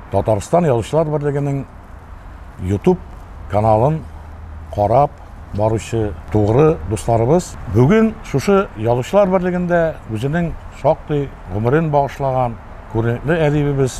Татарстан язучылар берлегенең YouTube каналын карап баручы тугры дусларыбыз бүген шушы язучылар берлегендә үзенең шактый гомерен багышлаган күренекле әдибебез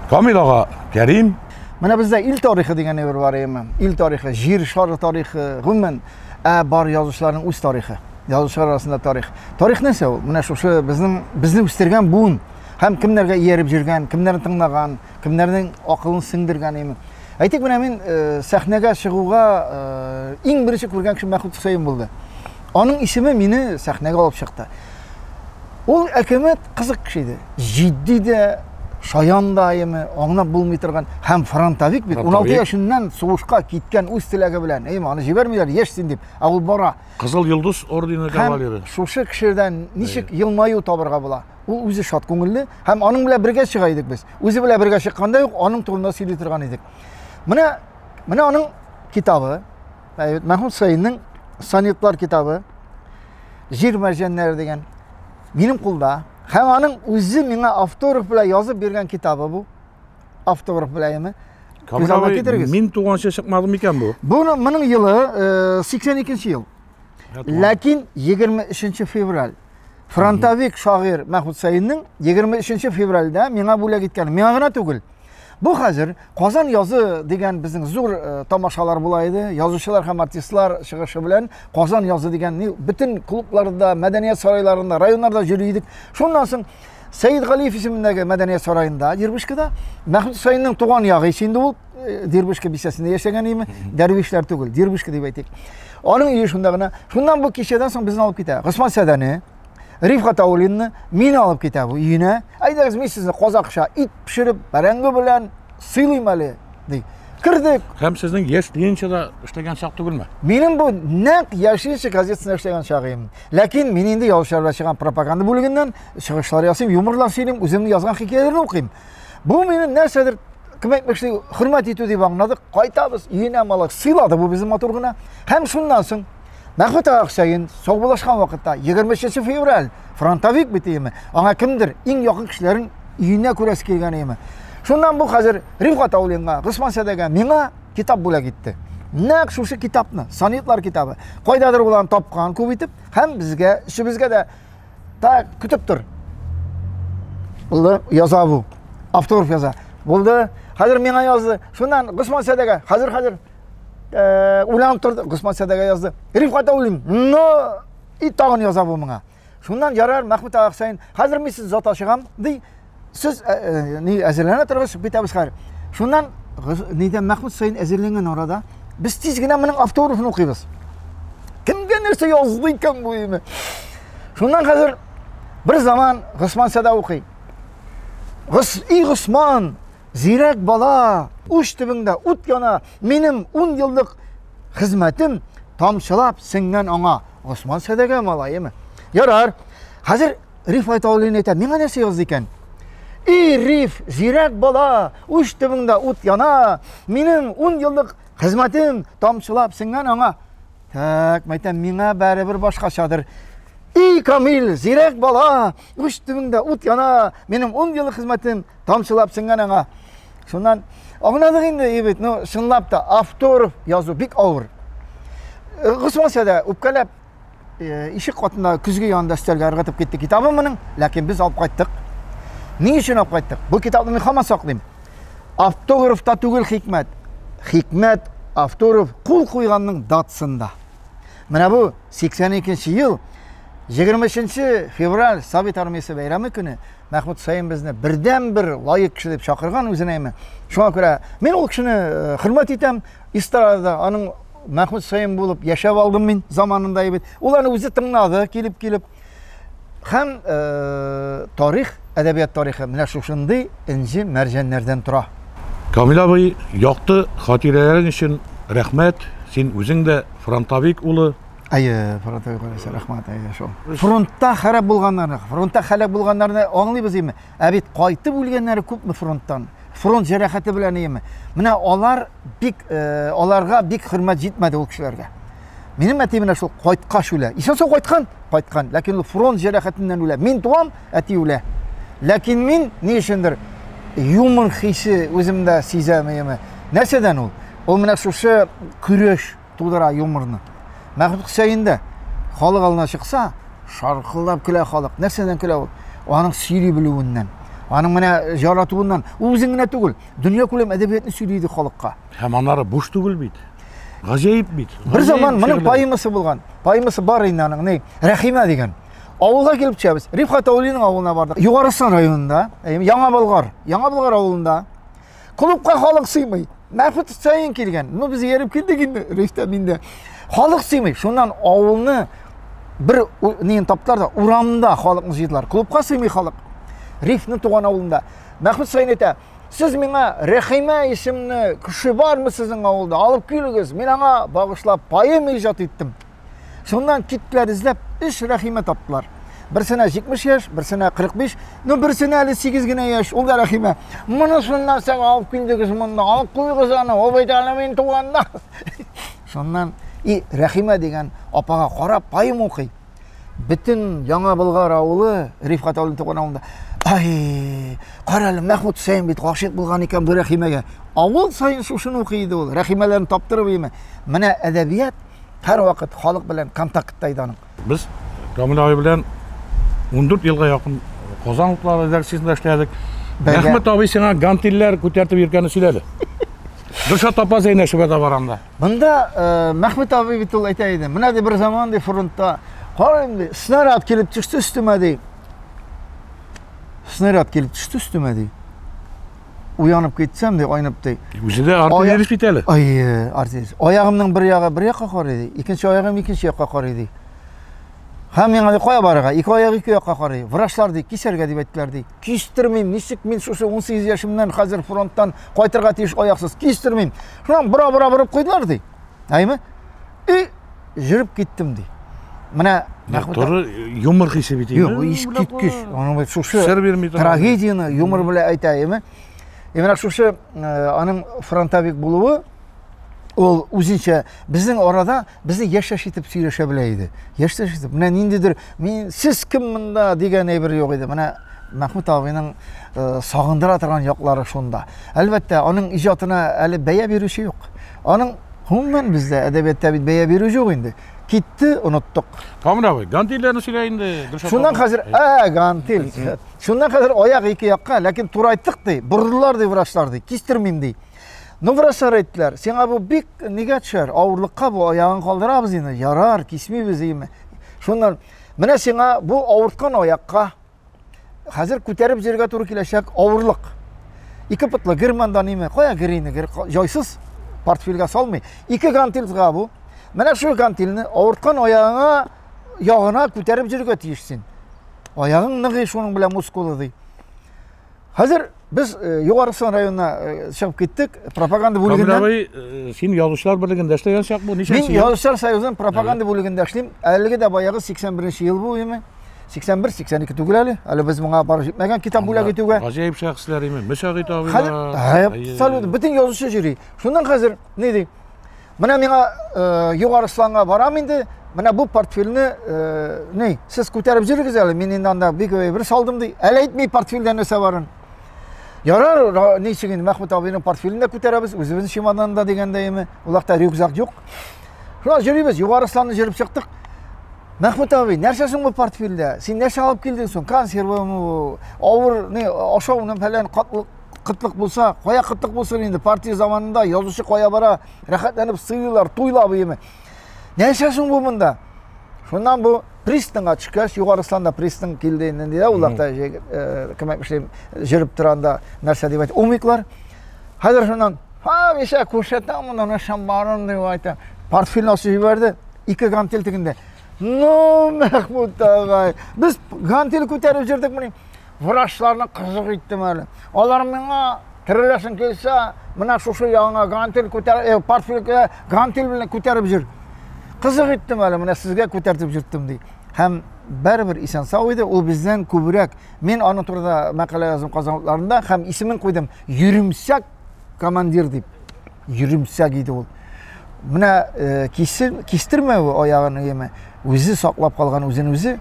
Камил ага Кәрим Менә бездә ил тарихы дигән әйбер бар, ил тарихы, җир шары тарихы, гомумән, Ә бар язучыларның үз тарихы. Язучылар арасында тарих. Тарих нәрсә ул? Менә шушы безнең безне үстергән буын һәм кемнәргә ияреп жүргән, кемнәрне тыңлаган, кемнәрнең акылын сеңдергән име. Әйтик, менә мин э, сәхнәгә чыгуга э, иң беренче күргән кеше Мәхмүт Хөсәен булды. Аның исеме мине сәхнәгә алып чыкты. Ул әкәмәт кызык кеше иде. җитди дә, шаян да әйеме, аңлап булмый торган һәм фронтовик бит. 16 яшеннән сугышка киткән үз теләге белән, әйеме, аны җибәрмиләр, яшь син дип, ә ул бара. Кызыл йолдыз ордены кавалеры. Шушы кешедән ничек елмаю табырга була? Ул үзе шат күңелле һәм аның белән бергә чыга идек без. Үзе белән бергә чыкканда юк, аның турында сөйли торган идек. Менә менә аның китабы, әйбәт, Мәхмүд Саинның сонетлар китабы, Җир мәрҗәннәре дигән минем кулда. Һәм аның үзе миңа автограф белән язып биргән китабы бу. Автограф белән яме. Күз алдына китерегез. Мин туганча чыкмады микән бу? Бу моның елы 82 э, ел. Ләкин 23 февраль фронтовик шагыйрь Мәхмүт Сәиннең 23 февральдә миңа бүләк иткән. Миңа гына түгел. Бу хәзер Казан язы дигән безнең зур э, тамашалар була иде. Язучылар һәм артистлар чыгышы белән Казан язы дигән ни бөтен клубларда, мәдәният сарайларында, районнарда йөри идек. Шуннан соң Сәйид Галиев исемендәге мәдәният сараенда, Дербышкада, Мәхмүт Хусейнның туган ягы ише инде ул, э, Дербышка бистәсендә яшәгән име, дәрвишләр түгел, Дербышка дип әйтик. Аның өе шунда гына. Шуннан бу кичәдән соң безне алып китә. Госман Сәдәне, Рифхат Аулинны мин алып китә бу өенә. Әйдәгез, мин сезне казакша ит пешереп, бәрәңге белән сыйлыйм әле, ди. Кердек. Һәм сезнең яшь ленинчыда эшләгән чак түгелме? Минем бу нәкъ яшенче газетасында эшләгән чагым. Ләкин мин инде яучыларда чыган пропаганда бүлегеннән чыгышлар ясыйм, юморлар сөйлим, үземнең язган хикәяләрне укыйм. Бу минем нәрсәдер кем әйтмешли, хөрмәт итү дип аңладык. Кайтабыз, өенә малак сыйлады бу безне матур гына. Һәм шуннан соң Мәхмүт ага Хөсәен саубуллашкан вакытта 23 февраль фронтовик бит иеме? Аңа кемдер иң якын кешеләрен өенә күрәсе килгән иеме? Шуннан бу хәзер Римка Таулинга, Госман Сәдәгә миңа китап бүләк итте. Нәкъ шушы китапны, сонетлар китабы, кайдадыр булан тапкан күп итеп һәм безгә, өчебезгә дә так көтеп тор. Булды, яза бу. Авторов яза. Булды. Хәзер миңа язды. Шуннан Госман Сәдәгә, хәзер хәзер Э, уйланып торды госман сәдәгә язды рифкат уйлыйм но и тагын яза бу моңа шуннан ярар мәхмүт ага хусәин хәзер мин сез зата чыгам ди сез э, э, ни әзерләнә торыгыз бетәбез хәзер шуннан нидән мәхмүт хусәин әзерләнгән арада без тиз генә моның автографын укыйбыз кемгә нәрсә язды икән бу име шуннан хәзер бер заман госман сәдә укый и госман Зирәк бала, уч төбеңдә ут яна, минем ун еллык хезмәтем тамчылап сеңгән аңа. Госман сәдәгә малаемы? Ярар. Хәзер риф айта алыйны әйтә. Миңа нәрсә язды икән? И риф, зирәк бала, уч төбеңдә ут яна, минем ун еллык хезмәтем тамчылап сеңгән аңа. Так, мәйтәм, миңа бәребер башкачадыр. И камил, зирәк бала, уч төбеңдә ут яна, минем ун еллык хезмәтем тамчылап сеңгән аңа. Шуннан аңладык инде, ебет, ну, чынлап та авторов язу бик авыр. Э, Госманча да үпкәләп э, ишек катында көзге янында өстәлгә ыргытып китте китабы моның, ләкин без алып кайттык. Ни өчен алып кайттык? Бу китапны мин хаман саклыйм. Автограф та түгел хикмәт. Хикмәт авторов кул куйганның датсында. Менә бу 82 нче ел 23 февраль Совет армиясе бәйрәме көне Мәхмүт Хөсәен безне бердәнбер лаек кеше дип чакырган үзенә име. Шуңа күрә мин ул кешене э, хөрмәт итәм. Истарада аның Мәхмүт Хөсәен булып яшәп алдым мин заманында бит. Ул аны үзе тыңлады, килеп килеп. Һәм э, тарих, әдәбият тарихы менә шушындый инҗе мәрҗәннәрдән тора. Камил абый, якты хатирәләрең өчен рәхмәт. Син үзең дә фронтовик улы. Әйе, фронтта күрәсе, рәхмәт, әйе, шул. Фронтта хәрәп булганнарны, фронтта хәләк булганнарны аңлыйбыз име? Ә бит кайтып үлгәннәре күпме фронттан? Фронт җәрәхәте белән име? Менә алар бик э, аларга бик хөрмәт җитмәде ул кешеләргә. Минем әти менә шул кайткач үлә. Исән сау кайткан, кайткан, ләкин ул фронт җәрәхәтеннән үлә. Мин туам, әти үлә. Ләкин мин ни өчендер юмор хисе үземдә сизәм яме. Нәрсәдән ул? Ул менә шушы көрәш, тудыра юморны. Мәхмүт Хөсәен дә халык алдына чыкса, шаркылдап көлә халык. Нәрсәдән көлә ул? Аның сөйли белүеннән. Аның менә жаратуыннан. Ул үзен генә түгел, дөнья күләм әдәбиятны сөйли иде халыкка. Һәм анары буш түгел бит. Гаҗәеп бит. Бер заман моның поэмасы булган. Поэмасы бар инде аның, ни, Рәхимә дигән. Авылга килеп төшәбез. Рифхат Аулиның авылына бардык. Югарысын районында, Яңа Болгар. Яңа Болгар авылында Клубка халык сыймый. Мәхмүт Хөсәен килгән. Ну без ерып килдек инде, Рифтә миндә. Халык сыймый. Шуннан авылны бер неен таптылар да урамда халыкны җыйдылар. Клубка сыймый халык. Рифтның туган авылында. Мәхмүт Хөсәен әйтә, Сез миңа Рәхимә исемле кеше бармы сезнең авылда? Алып килегез. Мин аңа багышлап поэма иҗат иттем. Шуннан киттеләр эзләп, өч Рәхимә таптылар. Берсенә 70 яшь, берсенә 45, ну берсенә әле 8 генә яшь, ул да Рәхимә. Моны шуннан соң алып килдегез монда, алып куйгыз аны, ул бит әле мин туганнан. Шуннан и Рәхимә дигән апага карап поэм укый. Бөтен Яңа Болгар авылы Рифкат Алин туган авылында. Ай, кара әле Мәхмүт Хусейн бит гашыйк булган икән бу Рәхимәгә. Авыл саен шушыны укый иде ул. Рәхимәләрен таптырып име. Менә әдәбият Һәрвакыт халык белән контактта иде аның. Без Камил абый белән 14 елга якын Казан утлары редакциясендә эшләдек. Рәхмәт абый сиңа гантилләр күтәртеп йөргәнне сөйләде. Дөршә тапа зәйнәшүгә дә барамда. Монда э, Мәхмәт абый бит ул әйтә иде. Менә ди бер заман ди фронтта карыйм ди, снаряд килеп төште өстемә ди. Снаряд килеп төште өстемә ди. уянып китсәм, ди, айнып, ди. Үзе дә артиллерист бит әле. Ай, артиллерист. Аягымның бер ягы бер якка карый, ди. Икенче аягым икенче якка карый, ди. Һәм миңа ди, кая барырга? Ике аяк ике якка карый. Врачлар ди, кисәргә дип әйттеләр, ди. Кистермим, ничек мин шушы 18 яшемнән хәзер фронттан кайтырга тиеш аяксыз, кистермим. Шуннан бора-бора борып куйдылар, ди. Әйме? И, жүріп кеттім дей. Мына Туры юмор хисе бит. Юк, иш киткеч. Аның бит шушы трагедияны юмор белән әйтә, әйме? Ә менә шушы аның фронтовик булуы ул үзенчә безнең арада безне яшәш итеп сөйләшә белә иде. Яшәш итеп. Менә ниндидер мин сез кем монда дигән әйбер юк иде. Менә Мәхмүт абыйның сагындыра торган яклары шунда. Әлбәттә, аның иҗатына әле бәя бирүче юк. Аның гомумән бездә әдәбиятта бит бәя бирү юк инде. Китте, оныттык. Камыр абый, гантильләрне сөйлә инде. Шуннан хәзер, ә, гантиль. Шуннан хәзер аяк ике якка, ләкин турайтык ди, борылдылар ди врачлар ди, кистермим ди. Ну, врачлар әйттеләр, сиңа бу бик нигә төшәр, авырлыкка бу аягын калдырабыз инде, ярар, кисмибез, име. Шуннан, менә сиңа бу авырткан аякка, хәзер күтәреп җөргә туры киләчәк авырлык. Ике пытлы гер монда неме? Кая гер инде? Гер җайсыз портфельгә салмый. Ике гантилга бу. Менә шул гантилне авырткан аягыңа ягына күтәреп җөргә тиеш син. Аягың ныгый шуның белән мускулы ди. Хәзер без Югарысын районына чыгып киттек, пропаганда бүлегеннән. Камиләбай, син язучылар берлегендә эшләгән чак бу, ничә ел? Мин язучылар союзының пропаганда бүлегендә эшлим. Әлеге дә баягы 81 ел буеме. 81-82 түгел әле. Әле без моңа барып җитмәгән китап бүләк итүгә. Гаҗәеп шәхесләр име? Мөсәгыйт абыйлар. Абсолютно бөтен язучы җөри. Шуннан хәзер ни ди? Менә миңа э, Югарысланга барам инде, менә бу портфельне э, ни, сез күтәреп җөрегез әле, мин инде анда бик бер салдым ди. Әле әйтми портфельдә нәрсә барын. Ярар, ничек инде Мәхмүт абыйның портфелен дә күтәрәбез, үзебезнең чемоданында дигәндәйме, улакта рюкзак юк. Шулай җөрибез, Югарысланны җөреп чыктык. Мәхмүт абый, нәрсә соң бу портфельдә? Син нәрсә алып килдең соң? Консервамы, авыр, ни, ашауны фәлән, катлык кытлык булса, кая кытлык булсын инде, партия заманында язучы кая бара, рәхәтләнеп сыйлыйлар, туйлап иеме. Нәрсә соң бу монда? Шуннан бу пристанга төшкәч, Югарысланда пристан килде инде дә, улар да э, кем әйткән, җөреп торганда нәрсә дип әйтә, умиклар. Хәзер шуннан, ха, миша күрсәтә монда нәрсә барын дип әйтә. Портфель насып җибәрде, ике гантел тегендә. Ну, Мәхмүт агай, без гантел күтәреп җөрдек мени. врачларны кызык иттем әле. Алар миңа тереләсең килсә, менә шушы яңа гантель күтәреп, э, портфель гантель белән күтәреп җөр. Кызык иттем әле, менә сезгә күтәртеп җөрттем ди. Һәм бәрбер исән сау иде, ул бездән күбрәк. Мин аның турында мәкалә яздым казанларында һәм исемен куйдым. Йөремсәк командир дип йөремсәк иде ул менә э, кисер, кистермәве аягын өеме үзе саклап калган үзен үзе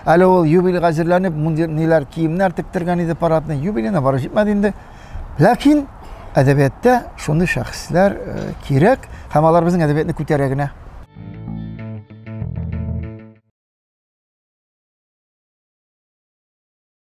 әле ул юбилейга әзерләнеп мундир ниләр киемнәр тектергән иде парадный юбилейна бары җитмәде инде ләкин әдәбиятта шундый шәхесләр э, кирәк һәм алар безнең әдәбиятны күтәрә генә